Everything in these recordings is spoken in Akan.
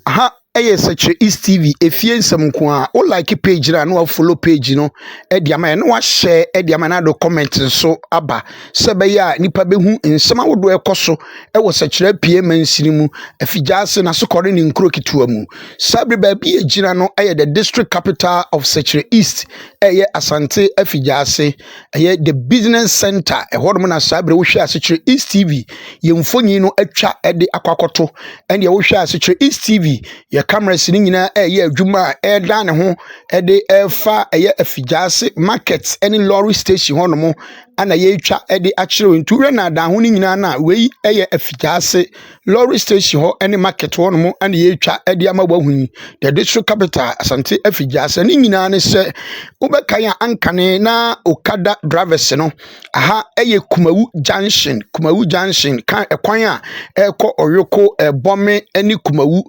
Aha yɛ Sekyere East TV, efie nsɛm nko ara. Wo like page no a na wa follow page no de ama yɛn na wa share de ama yɛn na de comment nso aba sɛ ɛbɛyɛ a nnipa bɛhu nsɛm ahodoɔ ɛkɔ so wɔ Sekyere Apue mansini mu, Afigyaase, Nasokɔre ne nkuro ketewa mu. Saa bere baabi yɛ gyina no yɛ the district capital of Sekyere East, ɛyɛ Asante Afigyaase. ɛyɛ the business center ɛhɔ nom na saa berɛ wohwɛ ase kyerɛ east tv yɛn mfonyin no atwa de akɔ akɔto ɛndeɛ wohwɛ ase kyerɛ east tv yɛ cameras no nyinaa ɛyɛ adwuma a ɛdan ne ho ɛde ɛfa ɛyɛ afigya ase market ɛne lorry station hɔ nom ana yɛatwa ɛde akyerɛ nti wohwɛ na adan ho no nyinaa no a wei ɛyɛ afigya ase Lorry station hɔ ne market hɔnom na yɛretwa de ama woahu yi. Yɛde so capital Asante afi Gyasa. Ne nyinaa ne sɛ wobɛkan a ankane na okada drivers no aha yɛ Kumawu junction, Kumawu junction kan ɛkwan a ɛrekɔ Ɔyoko, Ɛbɔme ne Kumawu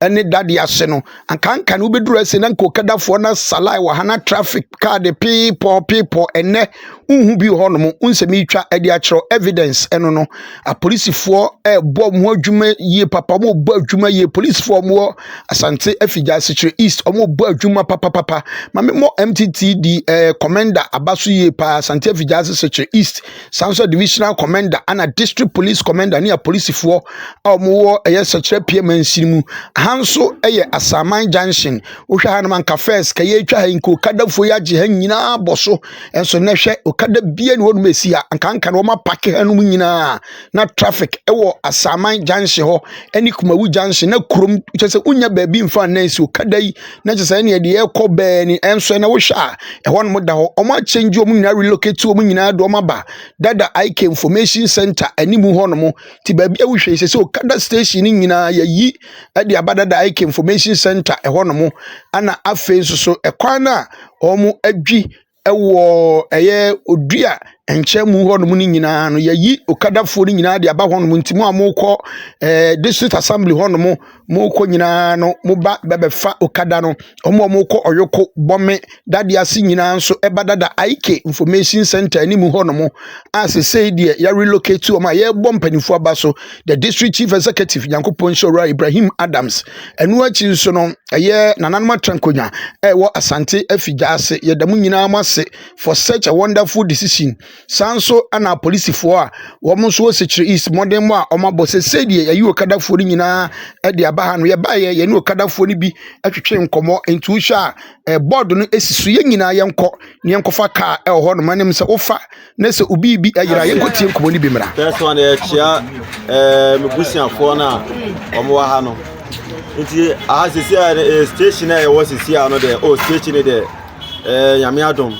ne dade ase no ankanka no wobɛduru ase na nka ɔkadafoɔ no asalae wɔ ha na traffic kaa de peepɔ peepɔ ɛnnɛ wohu bi hɔ nom wonsɛm yitwa de akyerɛ evidence ɛno no apolisifoɔ ɛbɔ mu adwuma yie papa wɔn bɔ adwuma yie polisifoɔ wɔn wɔ asante afigya asekyerɛ east wɔn bɔ adwuma papapapa maame mɔ mttd ɛɛ commander aba so yie paa asante afigya asekyerɛ east saa nso divisional commander ana district police commander ne apolisifoɔ a wɔwɔ ɛyɛ sɛkyerɛ pie mansin mu ha nso ɛyɛ asaman junction wohwɛ ha nom anka first ka yɛtwa ha nka okadafoɔ yi agye ha nyinaa bɔ so ɛnso na hwɛ okada bie ne wɔnom ɛsi ha anka anka na wɔn apake ha nom nyinaa na traffic ɛwɔ asaman junction hɔ ɛne kumawu junction na kurom kyɛ sɛ wonya baabi mfa nnan si okada yi na kyerɛ sɛ ɛneɛ deɛ ɛkɔ bɛɛ ni ɛnso ɛna wohwɛ a ɛhɔ nom da hɔ ɔmo akyɛngye ɔmo nyinaa relocate ɔmo nyinaa de ɔmo aba dada IK information center anim hɔ nom ti baabi a wohwɛ sɛ sɛ okada station ne nyinaa yɛyi ɛde aba dada IK information center ɛhɔ nom ɛna afei nso so ɛkwan no a ɔmo adwi wɔ ɛyɛ odua nkyɛnmu hɔnom no nyinaa no yɛyi okadafoɔ no nyinaa de aba hɔnom nti mo a mokɔ eh, district assembly hɔnom mokɔ nyinaa no moba bɛbɛfa okada no ɔmo a mokɔ ɔyoko bɔme dade ase nyinaa nso ɛba dada ik information center anim hɔnom a sesei deɛ yɛrelocate ɔmo a yɛrebɔ mpanimfoɔ aba so the district chief executive nyankopɔn nhyɛ owura ibrahim adams ɛno akyi nso no ɛyɛ nananom atrankonya ɛwɔ asante afigya ase yɛda mu nyinaa mo ase for such a wonderful decision saa nso ana polisifoɔ a wɔn nso wɔ sekyerɛ east mmɔden mu a wɔabɔ sɛ sɛdeɛ yɛyi okadafoɔ no nyinaa ɛde aba ha no yɛbaeɛ yɛne okadafoɔ no bi atwetwe nkɔmmɔ nti wohwɛ a board no ɛsi so yɛn nyinaa yɛnkɔ ne yɛnkɔfa kaa ɛwɔ hɔ nom anim sɛ wofa na sɛ obi bi ayera yɛnkɔ tie nkɔmmɔ no bi mmra first one yɛkyia eh, me busuafoɔ no a wɔn wɔ ha no nti aha sisi a eh, station a yɛwɔ sisi a no deɛ o oh, station no deɛ eh, nyame adom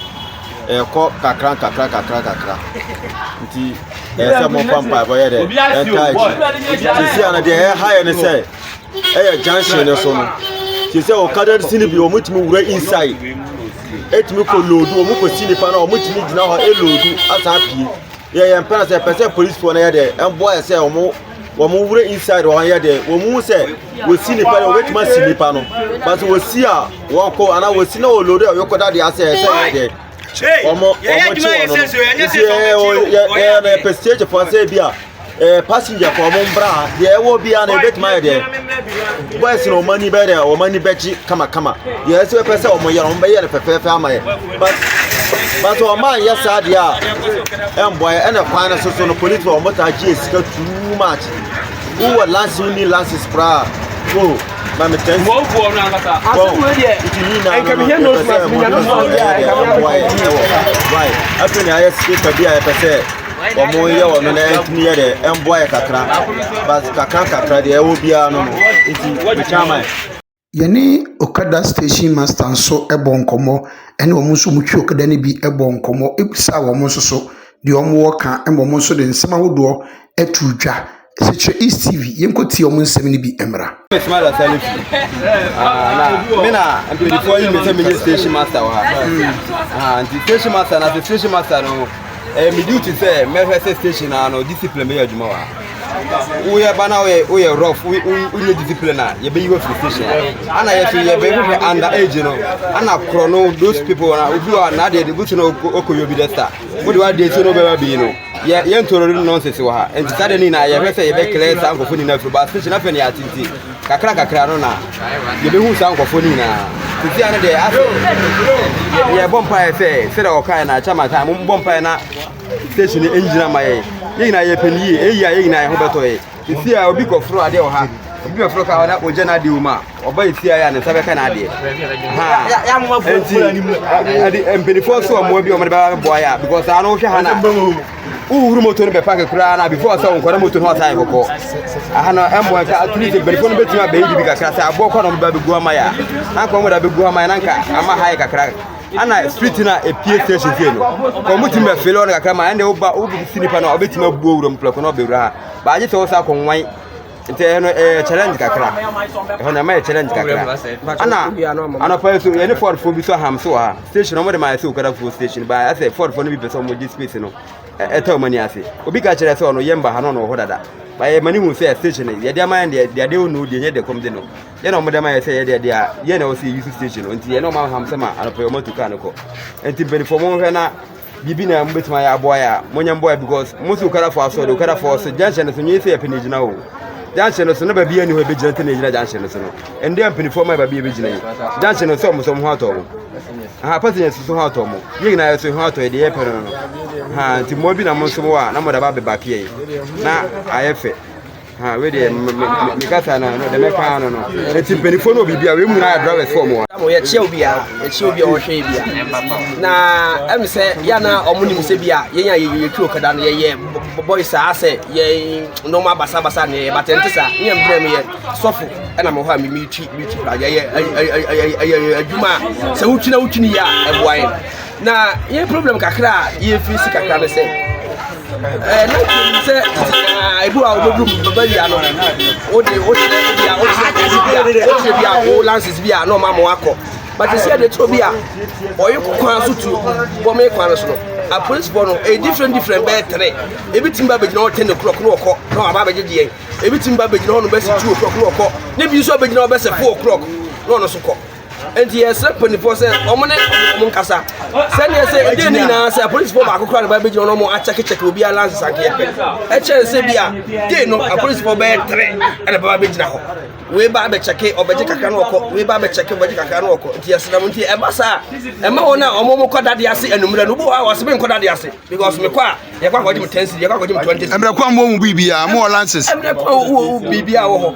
ɛkɔ kakra kakra kakra kakra nti ɛsɛ mɔfa mpaebɔ yɛ dɛ ɛnta akyi sisi a no deɛ ɛha yɛ ne sɛ ɛyɛ junction no so no te sɛ ɔkada si no bi wɔn tumi wura inside ɛtumi kɔ loodu wɔn kɔ si nipa na wɔn tumi gyina hɔ ɛloodu asan pie yɛ yɛn mpɛn sɛ pɛ sɛ polisifoɔ no yɛ dɛ ɛmboa yɛ sɛ wɔn wɔn wura inside wɔn yɛ dɛ wɔn mu sɛ wɔsi nipa no wɔbɛtumi asi nipa no but wɔsi a wɔn kɔ anaa wɔsi na wɔloodu a wɔkɔda deɛ asɛ ɛsɛ yɛ dɛ wɔn wɔn kye wɔn no nti ɛɛ yɛ yɛ na yɛpɛ stage fo asɛ bi a ɛɛ passenger fo wɔn mbra ha deɛ ɛwɔ bi a na ebetumi ayɛ deɛ boys na wɔn ani bɛ deɛ wɔn ani bɛ gye kamakama deɛ ɛsɛ pɛ sɛ wɔn yɛ wɔn bɛ yɛ no fɛfɛɛfɛ ama yɛ but but wɔn a yɛ saa deɛ a ɛnbɔ yɛ ɛna kwan no soso no polisi wɔn saa gye sika too much. Wowɔ lances wonni lances koraa o ma me test. Wọ́n bu ọ̀nà àkàtà. Asẹ́mu ẹ̀ díẹ̀. Nti yìí náà nǹkan mi hẹ́ nose mask mi yàn nose mask yà ẹ̀ka mi àmì kọ̀ ọ̀mù yẹ wọ̀. Why? Afei na ayɛ speaker bi a yɛpɛ sɛ ɔmo yɛ wɔ no na ɛntumi yɛ dɛ ɛmboa yɛ kakra but kakra kakra deɛ ɛwɔ biara no no nti mekyɛ ama yɛ. Yɛne okada station master nso bɔɔ nkɔmmɔ, ɛne wɔn nso wɔtwi okada no bi bɔɔ nkɔmmɔ bisaa wɔn nso so deɛ wɔwɔ ka ma wɔn nso de nsɛm ahodoɔ too dwa. Sekyerɛ East TV, yɛnkɔtie wɔn nsɛm no bi mmra. Ismaila Salisu, na me na mpanyinfoɔ yi me sɛ menyɛ station master wɔ ha nti station master na sɛ station master no ɛyɛ me duty sɛ mɛhwɛ sɛ station na no discipline bɛyɛ adwuma wɔ ha woyɛ ba na woyɛ woyɛ rough woyɛ discipline a yɛbɛyi wɔ free station ana yɛ so yɛ bɛyɛ hwehwɛ under age no ana korɔ no those people na obi wa na adeɛ de busu na ɔkɔ yɛ obi dɛ star wode wa adeɛ so na ɔbɛba bi no yɛ yɛ ntoro no nonsense wɔ ha nti saa deɛ no nyinaa yɛhwɛ sɛ yɛbɛ clear saa nkɔfo nyinaa firi ba station afɛ ne yɛ atete kakra kakra no na yɛbɛhu saa nkɔfo no nyinaa sisi ano deɛ yɛbɔ mpaeɛ sɛ sɛdeɛ ɔkae na akyɛ ma saa mombɔ mpaeɛ na station no ngyina ma yɛn yɛn nyinaa yɛpɛ no yie ɛyɛ a yɛn nyinaa yɛn ho bɛtɔ yɛ ɛfie a obi kɔforo adeɛ wɔ ha obi bɛforo ka ɔna ɔgya no adeɛ wɔ mu a ɔba ɛfie a yɛ a ne nsa bɛka no adeɛ nti mpanimfoɔ nso wɔ mmoa bi ɔmde bɛba bɛboa yɛ a because saa no wohwɛ ha no wohuru moto no bɛpake koraa na before sɛ wonkɔda moto no ɔsan kɔkɔ aha no ɛmmoa nka atumi sɛ mpanimfoɔ no bɛtumi abɛyi biribi kakra sɛ aboɔ kɔ na ɔmde ba bɛgu ama yɛ a anka ɔmde abɛgu ama yɛ na nka ama ha yɛ kakra ana street na epie station fie no kò mo tìmɛ fele ɔno kakra ma ɛnna ɔba ɔbi si nipa na ɔbɛ tìmɛ bu owurɔ mu pɛlɛkɔ na ɔbɛ wura ha baagye sɛ ɔsa kɔ nwan nti ɛno ɛyɛ challenge kakra ɛhɔ na ɛma yɛ challenge kakra ana anɔpa yi so yɛ ne ford fo bi so aham so wɔ ha station ɔmo de ma ɛsɛ okada fo station ba ɛsɛ ford fo no bi pɛ sɛ ɔmo gye space no ɛtɛ ɔmo ani ase obi ka kyerɛ sɛ ɔno yɛ mba ha na ɔno wɔ hɔ dada ba yɛ ma ne hu sɛ station yɛ de ama yɛn deɛ deɛ de ɔno deɛ nyɛ deɛ kɔm de no yɛ na wɔde ama yɛ sɛ yɛ deɛ deɛ yɛ na wɔsi yusu station nti yɛ na wɔn aham sɛ ma anɔpɛ wɔn atu kaa no kɔ nti mpanyinfoɔ wɔn hwɛ na biribi na wɔn betuma yɛ aboa yɛ a wɔn nyɛ mboa because wɔn si okada fo aso de okada fo so junction no so nyɛ sɛ yɛ pɛ na egyina o junction no so ne baabi yɛ ni hɔ ebe gyina te na egyina junction no so no ɛnde mpanyinfoɔ ma yɛ baabi yɛ bɛ gyina yi junction no so wɔn so wɔn ho atɔ wɔn aha passengers so ho atɔ wɔn yɛ nyinaa yɛ so ho atɔ yɛ deɛ yɛ pɛ no no ha nti mmoa bi na wɔn nso wɔ a na wɔn de aba abɛba keɛ na ayɛ fɛ. ha wei deɛ mekasa na no dɛmɛ kaa no no ɛti mpanimfoɔ no obibia wei mu no ayɛ drivers fɔ mu yɛkyia obia yɛkyia obia ɔhwɛ bia na ɛm sɛ yɛ na ɔmo nim sɛ bia yɛn a yɛtu ɔkada no yɛyɛ bɔbɔi saa sɛ yɛ nnoɔma basabasa ne yɛyɛ batɛ nte saa ne ɛmbrɛ meyɛ sɔfo ɛna mewɔ hɔ a memetwi metwi pra yɛyɛ adwuma a sɛ wotwi na wotwi no yɛ a ɛboa yɛ na yɛ problem kakra a yɛfiri si kakra no sɛ eh, na twɛm sɛ ah, ebi a wobɛduru bɛba wia no wode wokyerɛ bi a wokyerɛ bi a wo lances bi a na ɔma ma wakɔ but ɛsi ɛde toro bi a ɔyɛ kwan so tu bɔ me kwan no so no apolisifoɔ no ɛyɛ different different bɛyɛ tere ebi tumi ba bɛgyina hɔ ten ne korɔk ne wɔkɔ na waba abɛgye deɛ ebi tumi ba bɛgyina hɔ no bɛsi two o'clock ne wɔkɔ ne bi nso abɛgyina hɔ bɛsɛ four o'clock na ɔno so kɔ nti yɛsrɛ mpanimfoɔ sɛ wɔn ne wɔn nkasa sɛdeɛ sɛ ɛdeɛ ne nyinaa sɛ apolisifoɔ baako kora ne ba bɛgyina wɔn wɔn akyɛkekyɛke obiara lanse sankeɛ pɛ ɛkyɛn sɛ bi a dei no apolisifoɔ bɛyɛ tere ɛna bɛba bɛgyina hɔ wei ba abɛkyɛke ɔbɛgye kakra no ɔkɔ wei ba abɛkyɛke ɔbɛgye kakra no ɔkɔ nti yɛsrɛ mo nti ɛba saa ɛma wɔn a wɔn mo kɔ dade ase anummerɛ no bi wɔ hɔ a wɔse me nkɔ dade ase because mekɔ a yɛkɔ akɔgye me ten cedi yɛkɔ akɔgye me twenty cedi ɛmmerɛ kwan mu wɔ mu biribiaa mo wɔ lanses ɛmmerɛ kwan mu wɔ mu biribiaa wɔ hɔ